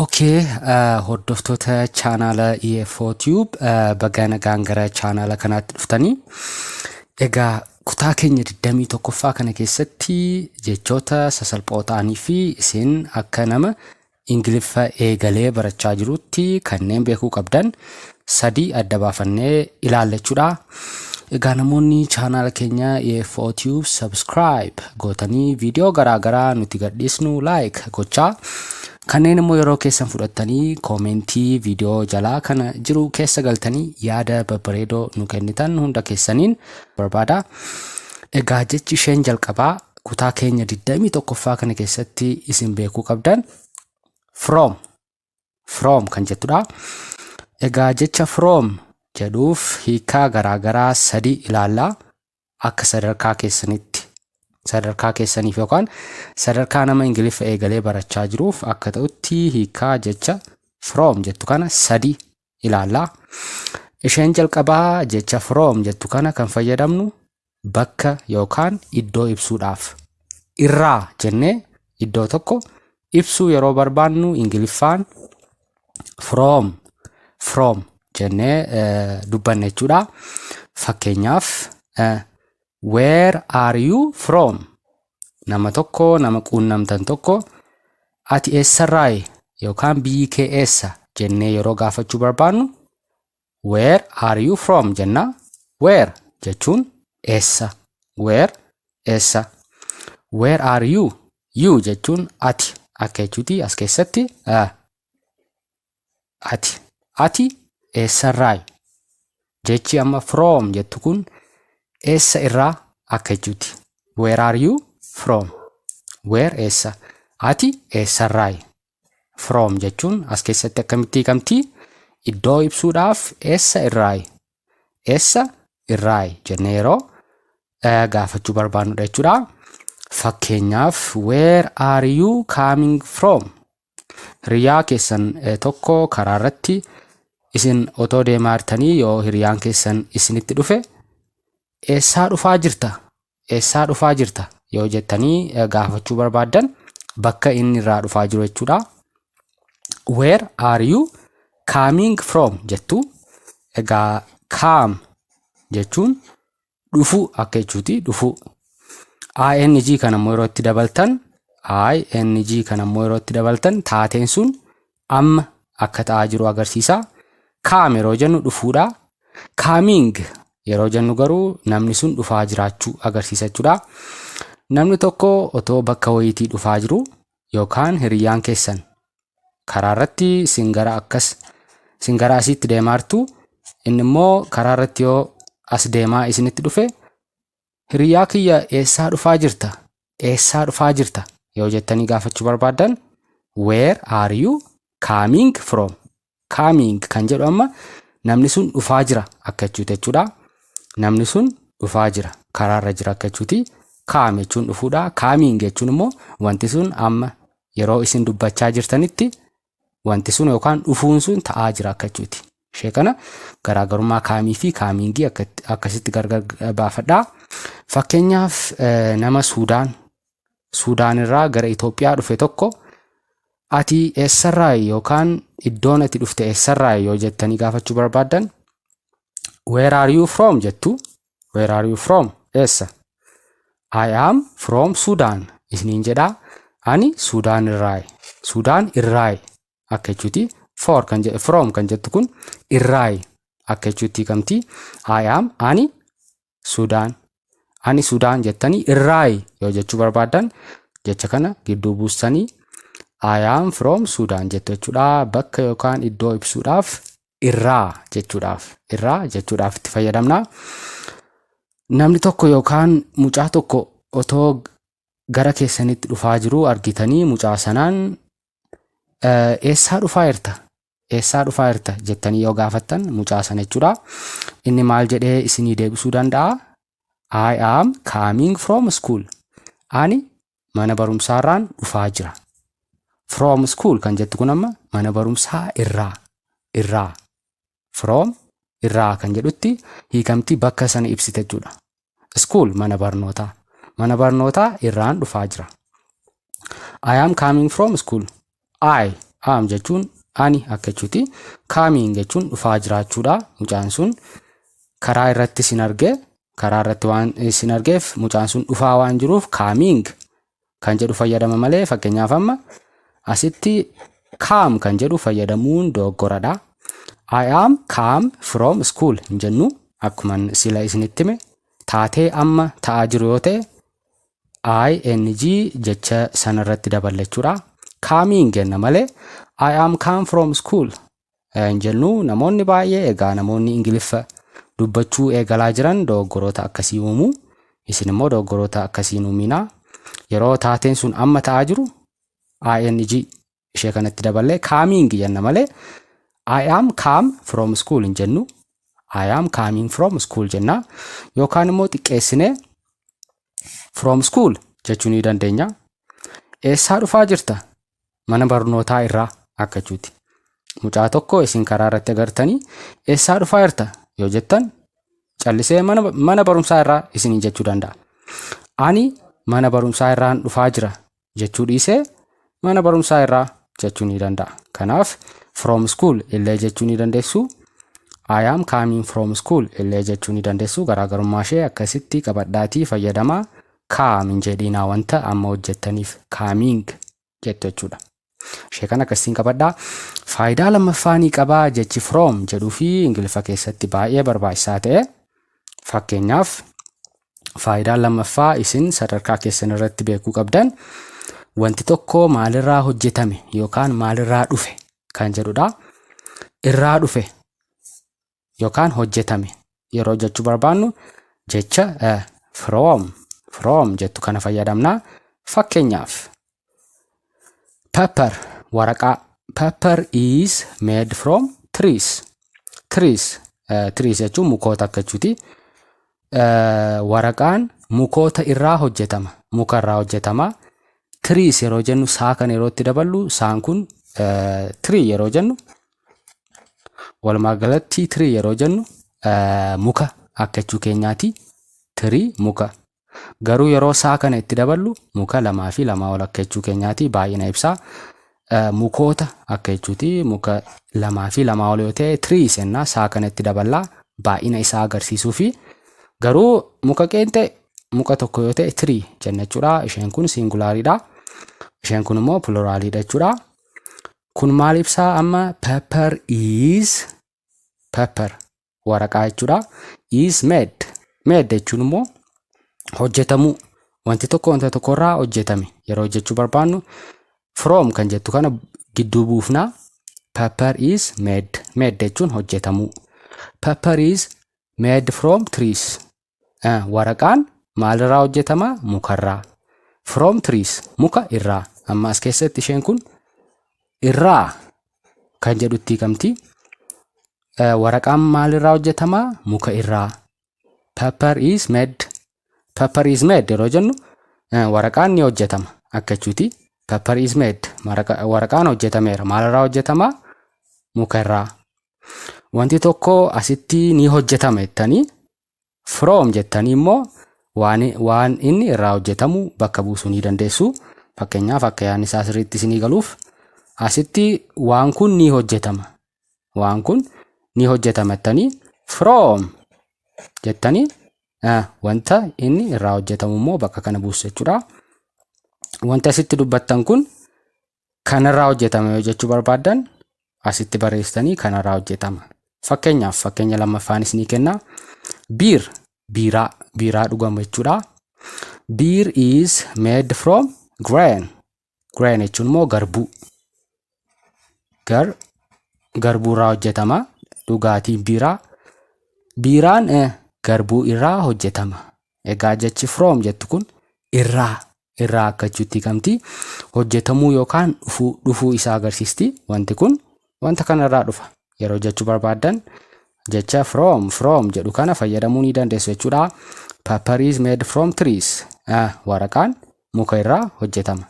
Ok hordoftoota chaanaala EFO Tube bagaa nagaan gara chaanaala kanaatti dhuftanii egaa kutaa keenya 21ffaa kana keessatti jechoota sasalphoo ta'anii fi isin akka nama ingiliffa eegalee barachaa jirutti kanneen beekuu qabdan sadii adda baafannee ilaalla jechuudha. Egaa namoonni chaanaala keenya EFO Tube subscribe gootanii viidiyoo garaagaraa nuti gadhiisnu like gochaa kanneen immoo yeroo keessan fudhattanii koomentii viidiyoo jalaa kana jiru keessa galtanii yaada babbareedoo nu kennitan hunda keessaniin barbaada. Egaa jechi isheen jalqabaa kutaa keenya 21ffaa kana keessatti isin beekuu qabdan from from kan jettudha. Egaa jecha from jedhuuf hiikaa garaagaraa sadii ilaalla akka sadarkaa keessanitti sadarkaa keessaniif yookaan sadarkaa nama ingiliffa eegalee barachaa jiruuf akka ta'utti hiikaa jecha from jettu kana sadii ilaalla. Isheen jalqabaa jecha from jettu kana kan fayyadamnu bakka yookaan iddoo ibsuudhaaf. Irraa jennee iddoo tokko ibsuu yeroo barbaannu Ingiliffaan from from jennee eh, dubbanna jechuudha. Fakkeenyaaf eh, where are you from? nama tokko nama quunnamtan tokko ati eessarraayi yookaan biyyi kee eessa jennee yeroo gaafachuu barbaannu where are you from jenna where jechuun eessa where eessa where are you you jechuun ati akka jechuuti as keessatti uh, Ati. Ati eessarraayi? Jechi amma from jettu kun eessa irraa akka jechuuti. Where are you from? Where eessa? Ati eessarraayi? From jechuun as keessatti akkamitti hiikamti? Iddoo ibsuudhaaf eessa irraayi? Eessa irraayi jennee yeroo eh, gaafachuu barbaannudha jechuudha. Fakkeenyaaf where are you coming from? Hiriyaa keessan tokko karaa irratti isin otoo deemaa jirtanii yoo hiriyaan keessan isinitti dhufe eessaa dhufaa jirta eessaa dhufaa jirta yoo jettanii gaafachuu barbaaddan bakka inni irraa dhufaa jiru jechuudha. Where are you coming from jettu egaa kaam jechuun dhufuu akka jechuuti dhufuu. ING kana immoo yeroo itti dabaltan ING kana immoo yeroo itti dabaltan taateen sun amma akka ta'aa jiru agarsiisa. Kaam yeroo jennu dhufuudha. Kaaming yeroo jennu garuu namni sun dhufaa jiraachuu agarsiisa jechuudha. Namni tokko otoo bakka wayiitii dhufaa jiru yookaan hiriyyaan keessan karaa irratti isin gara akkas isin gara asiitti deemaartu inni immoo karaa irratti yoo as deemaa isinitti dhufe hiriyyaa kiyya eessaa dhufaa jirta eessaa dhufaa jirta yoo jettanii gaafachuu barbaaddan where are you coming from Coming kan jedhu amma namni sun dhufaa jira akka jechuuti jechuudha. Namni sun dhufaa jira karaarra jira akka jechuuti. Kaam jechuun dhufuudha. Kaamiin jechuun immoo wanti sun amma yeroo isin dubbachaa jirtanitti wanti sun yookaan dhufuun sun ta'aa jira akka jechuuti. Ishee kana garaagarummaa kaamii fi kaamiingii akkasitti gargar baafadhaa. Fakkeenyaaf nama Suudaan Suudaan irraa gara Itoophiyaa dhufe tokko ati eessarraayi yookaan iddoon ati dhufte eessarraayi yoo jettanii gaafachuu barbaaddan where are you from jettu where are you from eessa I am from Sudan isiniin jedhaa ani Suudaan irraayi Suudaan irraayi akka jechuuti for kan jedhu from kan jettu kun irraayi akka jechuutti hiikamti I am ani Sudaan. Ani Sudaan jettanii irraayi yoo jechuu barbaaddan jecha kana gidduu buustanii I am from Sudan jettu jechuudha. Bakka yookaan iddoo ibsuudhaaf irraa jechuudhaaf irraa jechuudhaaf itti fayyadamna. Namni tokko yookaan mucaa tokko otoo gara keessanitti dhufaa jiru argitanii mucaa sanaan eessaa dhufaa jirta Eessaa dhufaa jirta jettanii yoo gaafattan mucaa sana jechuudha. Inni maal jedhee isinii deebisuu danda'a? I am coming from school. Ani mana barumsaarraan dhufaa jira. From school kan jettu kun amma mana barumsaa irraa irraa from irraa kan jedhutti hiikamti bakka sana ibsite jechuudha. School mana barnootaa. Mana barnootaa irraan dhufaa jira. I am coming from school. I am jechuun ani akka jechuuti. Coming jechuun dhufaa jiraachuudha. Mucaan sun karaa irratti sin arge karaa irratti waan sin argeef mucaan sun dhufaa waan jiruuf coming kan jedhu fayyadama malee fakkeenyaaf amma asitti kaam kan jedhu fayyadamuun dogoggoradha. I am kaam from school hin jennu akkuma sila isinitti hime taatee amma ta'aa jiru yoo ta'e ing jecha sanarratti daballachuudha. Kaamiin jenna malee I am come from school hin jennu namoonni baay'ee egaa namoonni ingiliffa dubbachuu eegalaa jiran dogoggoroota akkasii uumu isin immoo dogoggoroota akkasii hin uuminaa yeroo taateen sun amma ta'aa jiru ing ishee kanatti daballee kaamiing jenna malee I am come from school hin jennu I am coming from school jenna yookaan immoo xiqqeessinee from school jechuu ni dandeenya eessaa dhufaa jirta mana barnootaa irraa akkachuuti. Mucaa tokko isin karaa irratti agartanii eessaa dhufaa jirta yoo jettan callisee mana, mana barumsaa irraa isiniin jechuu danda'a. Ani mana barumsaa irraan dhufaa jira jechuu dhiisee mana barumsaa irraa jechuu ni danda'a. Kanaaf from school illee jechuu ni dandeessu. I am coming from school illee jechuu ni dandeessu. Garaagarummaa ishee akkasitti qabadhaatii fayyadamaa Come hin jedhiinaa wanta amma hojjettaniif coming jettu jechuudha. Ishee kana akkasiin qabadhaa. Faayidaa lammaffaa ni qaba jechi from jedhuu fi Ingiliffa keessatti baay'ee barbaachisaa ta'e. Fakkeenyaaf faayidaan lammaffaa isin sadarkaa keessan irratti beekuu qabdan wanti tokko maalirraa hojjetame yookaan maalirraa dhufe kan jedhudha. Irraa dhufe yookaan hojjetame yeroo jechuu barbaannu jecha eh, from from jettu kana fayyadamna fakkeenyaaf paper waraqaa paper is made from trees trees eh, trees jechuun mukoota akka jechuuti Eh, waraqaan mukoota irraa hojjetama muka irraa hojjetama tiriis yeroo jennu saa kan yerootti daballu saan kun tirii yeroo jennu Walumaa galatti tirii yeroo jennu muka akka jechuu keenyaati. Tirii muka. Garuu yeroo saa kana itti daballu muka lamaa fi lamaa ol akka jechuu keenyaati. Baay'ina ibsaa mukoota akka jechuuti. Muka lamaa fi lamaa ol yoo ta'e tirii sennaa saa kana itti daballaa baay'ina isaa agarsiisuu fi garuu muka qeenxee muka tokko yoo ta'e tirii jenna jechuudha. Isheen kun siingulaariidha. Isheen kun immoo piloraaliidha jechuudha. Kun maal ibsaa amma paper is paper waraqaa jechuudha. Is made made jechuun immoo hojjetamuu wanti tokko wanta tokko irraa hojjetame yeroo hojjechuu barbaannu from kan jettu kana gidduu buufna. Paper is made made jechuun hojjetamuu. Paper is made from trees Waraqaan maalirraa hojjetama? Mukarraa. From trees muka irraa. Amma as keessatti isheen kun irraa kan jedhutti hiikamti. Waraqaan maalirraa hojjetama? Muka irraa. Paper is made. Paper is made yeroo jennu waraqaan ni hojjetama akka jechuuti. Paper is made. Waraqaan hojjetameera. Maalirraa hojjetama? Muka irraa. Wanti tokko asitti ni hojjetama jettanii from jettanii immoo waan, waan inni irraa hojjetamu bakka buusuu ni dandeessu. Fakkeenyaaf akka yaadni isaa sirriitti isinii galuuf asitti waan kun ni hojjetama. Waan kun ni hojjetama jettanii from jettanii eh, wanta inni irraa hojjetamu immoo bakka kana buusu jechuudha. Wanti asitti dubbattan kun Kanarraa hojjetama yoo jechuu barbaaddan asitti barreessitanii kanarraa hojjetama. Fakkeenyaaf fakkeenya lammaffaan isinii kenna. Biir biiraa biiraa dhugamu jechuudha. Biir is made from grain. Grain jechuun immoo garbuu. Gar garbuurraa hojjetama. Dhugaatiin biiraa. Biiraan eh, garbuu irraa hojjetama. Egaa jechi from jettu kun irraa irraa akka jechuutti hiikamti. Hojjetamuu yookaan dhufuu dhufuu isaa agarsiisti. Wanti kun wanta kanarraa dhufa. Yeroo jechuu barbaaddan jecha from from jedhu kana fayyadamuu ni dandeessu jechuudha. Paper is made from trees. Ah, waraqaan muka irraa hojjetama.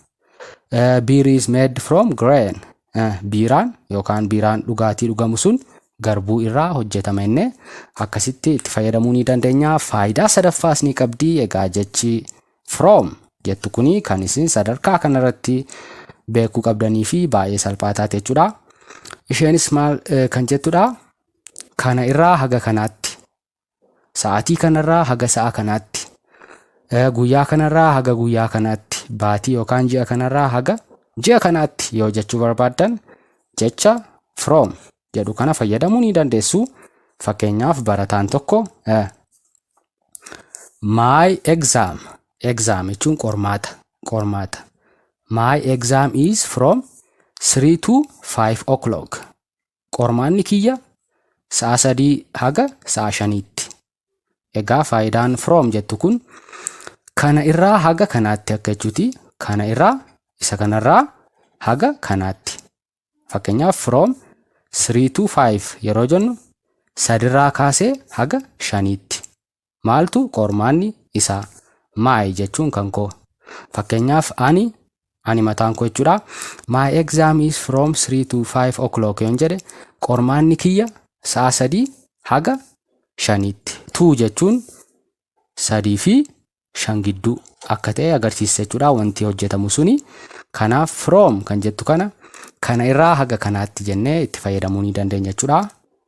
Beer is made from grain. Biiraan yookaan biiraan dhugaatii dhugamu sun garbuu irraa hojjetama inni akkasitti itti fayyadamuu ni dandeenya. Faayidaa sadaffaas ni qabdi. Egaa jechi from jettu kuni kan isin sadarkaa kanarratti beekuu qabdanii fi baay'ee salphaa taate jechuudha. Isheenis maal kan jettudha? Kana irraa haga kanaatti Sa'aatii kanarraa haga sa'a kanaatti, guyyaa kanarraa haga guyyaa kanaatti, baatii yookaan ji'a kanarraa haga ji'a kanaatti yoo jechuu barbaaddan jecha from jedhu kana fayyadamuu ni dandeessu. Fakkeenyaaf barataan tokko my exam exam jechuun qormaata qormaata my exam is from 3 to 5 o'clock Qormaanni kiyya sa'a sadii haga sa'a shaniitti. Egaa faayidaan from jettu kun kana irraa haga kanaatti akka jechuuti. Kana irraa isa kanarraa haga kanaatti. Fakkeenyaaf from 3 to 5 yeroo jennu sadirraa kaasee haga shaniitti. Maaltu qormaanni isaa? My jechuun kan koo. Fakkeenyaaf ani ani mataan koo jechuudha. My exam is from 3 to 5 o'clock yoon jedhe qormaanni kiyya sa'a sadii haga shaniitti. Tuu jechuun sadii fi shan gidduu akka ta'e agarsiisa jechuudha wanti hojjetamu suni. Kanaaf from kan jettu kana kana irraa haga kanaatti jennee itti fayyadamuu ni dandeenya jechuudha.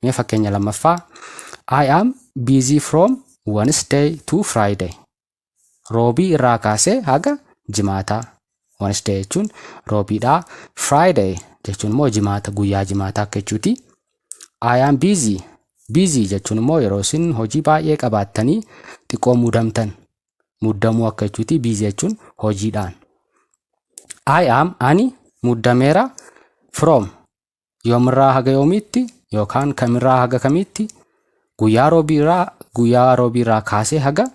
Mee fakkeenya lammaffaa I am busy from Wednesday to Friday. Roobii irraa kaasee haga jimaataa. Wednesday jechuun roobiidha. Friday jechuun immoo jimaata guyyaa jimaataa akka jechuuti. I am busy. Busy jechuun immoo yeroo isin hojii baay'ee qabaattanii xiqqoo muudamtan. Muddamuu akka jechuuti busy jechuun hojiidhaan. I am ani muddameera from yoomirraa haga yoomiitti yookaan kamirraa haga kamiitti guyyaa roobiirraa guyyaa roobiirraa kaasee haga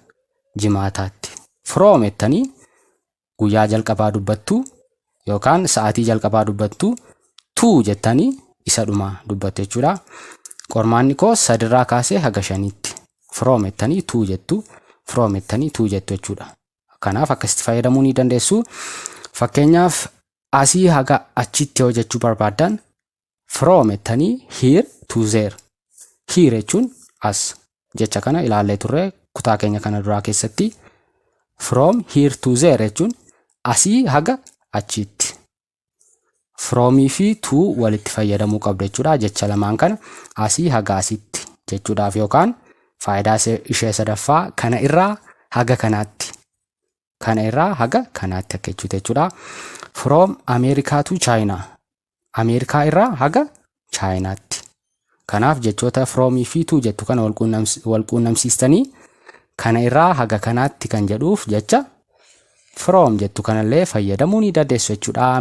jimaataatti from jettanii guyyaa jalqabaa dubbattuu yookaan sa'aatii jalqabaa dubbattuu tuu jettanii isa dhumaa dubbattu jechuudha. Qormaanni koo sadirraa kaasee haga shaniitti from jettanii tuu jettu from jettanii tuu jettu jechuudha. Kanaaf akkasitti fayyadamuu ni dandeessu. Fakkeenyaaf asii haga achitti yoo jechuu barbaaddan from jettanii here to there. Here jechuun as jecha kana ilaallee turre kutaa keenya kana duraa keessatti from here to there jechuun asii haga achiitti From fi to walitti fayyadamuu qabda jechuudha. Jecha lamaan kana asii haga asitti jechuudhaaf yookaan faayidaa ishee sadaffaa kana irraa haga kanaatti kana irraa haga kanaatti akka jechuuti jechuudha. From America to China Ameerikaa irraa haga Chaayinaatti. Kanaaf jechoota from fi to jettu kana wal quunnamsiistanii kana irraa haga kanaatti kan jedhuuf jecha from jettu kanallee fayyadamuu ni dandeessu jechuudha.